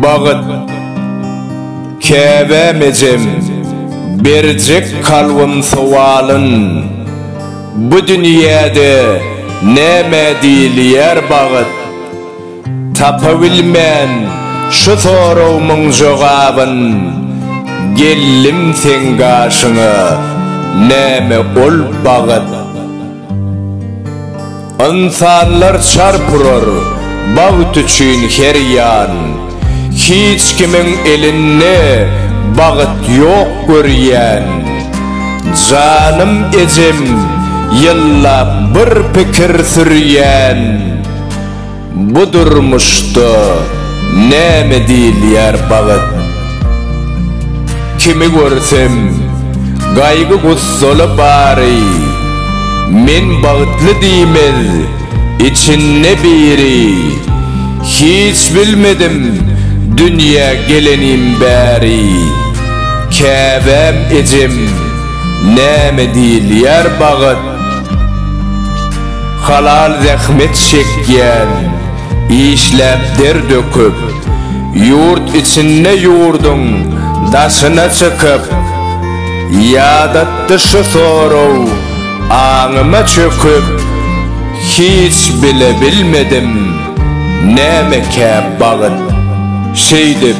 Bagyt Käbäm ejem berjek kalbym sowalyn Bu dünýäde nämä diýilýär bagyt? Tapabilmen şu soragymyň jogabyn Geldim seň gaşyňa näme ol bagyt Ynsanlar çarp urar bagt üçin her ýan Hiç kimiň elinde bagyt ýok görýän Janym ejem ýyllap bir pikir sürýän. Bu durmuşda näme diýilýär bagt? Kimi görsem, gaýgy-gussaly bary, Men bagtly diýmez, içinde biri. Hiç bilmedim dünýä gelenim bäri, Käbäm ejem, näme diýilýär bagt? Halal zähmet çekýän, işläp der döküp, ýurt içinde ýurduň daşyna çykyp, ýadatdy şu soraw aňyma çöküp, hiç bile bilmedim, nämekä bagyt, şeýdip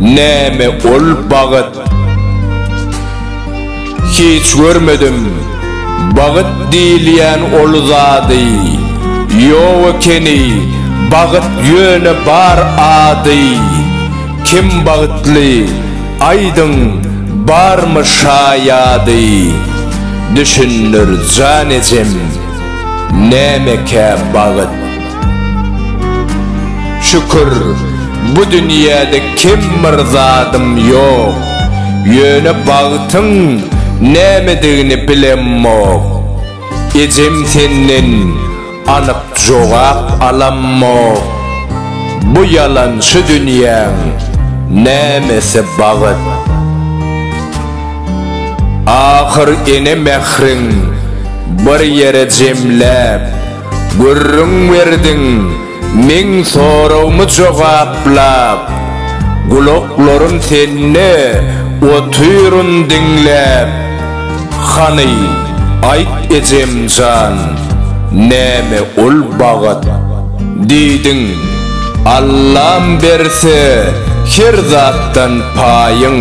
Näme ol bagt? Hiç görmedim bagt diýilýän ol zady, Ýok ekeni bagt ýöne bar ady. Kim bagtly, aýdyň, barmy şaýady? Düşündir jan ejem, nämekä bagt? Şükür, bu dünýäde kem bir zadym ýok, Ýöne bagtyň nämedigini bilemmok. Ejem senden anyk jogap alammok, Bu ýalançy dünýäň nämesi bagyt? Ahyr ene mähriň bir ýere jemläp. Gürrüň berdiň, meň soragymy jogaplap, Gulaklarym sende, otyryn diňläp. Hany, aýt ejem jan, näme ol bagt? Diýdiň, Allam berse, her zatdan paýyň.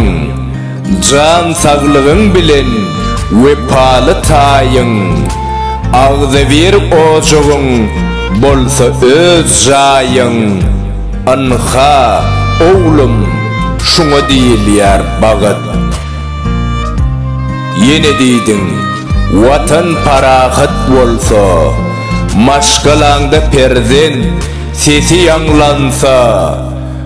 Jan saglygyň bilen wepaly taýyň, Agzybir ojagyň bolsa öz jaýyň. Ynha, oglum, şuňa diýilýär bagt. Ýene diýdiň, Watan parahat bolsa, Maşgalaňda perzent sesi ýaňlansa,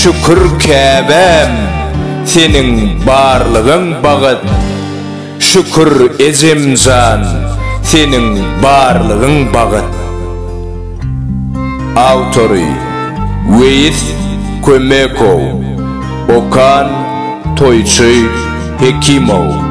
Şükür käbäm seniň barlygyň bagyt Şükür ejemjan seniň barlygyň bagyt Awtory Weýis Kömekow Okan Toýçy Hekimow.